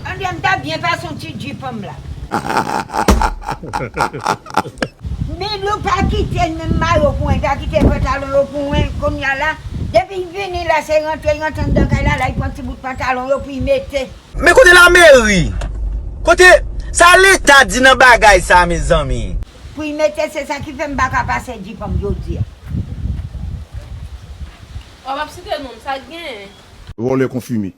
An dèm ta byen pa son ti dji fanm la. Milou pa kitel menm mayo pou mwen pa kitel pantalon yo pou mwen kounya la depil vini la se rantre rantre andan kay la lay pran ti bout pantalon yo poul mete. Men kote lameri? Kote, sa leta di nan bagay sa mezanmi? Poul mete se sa ki fè m paka pase dji fanm jodi a. Wap ap site nom sa genyen. Vòlè konfime.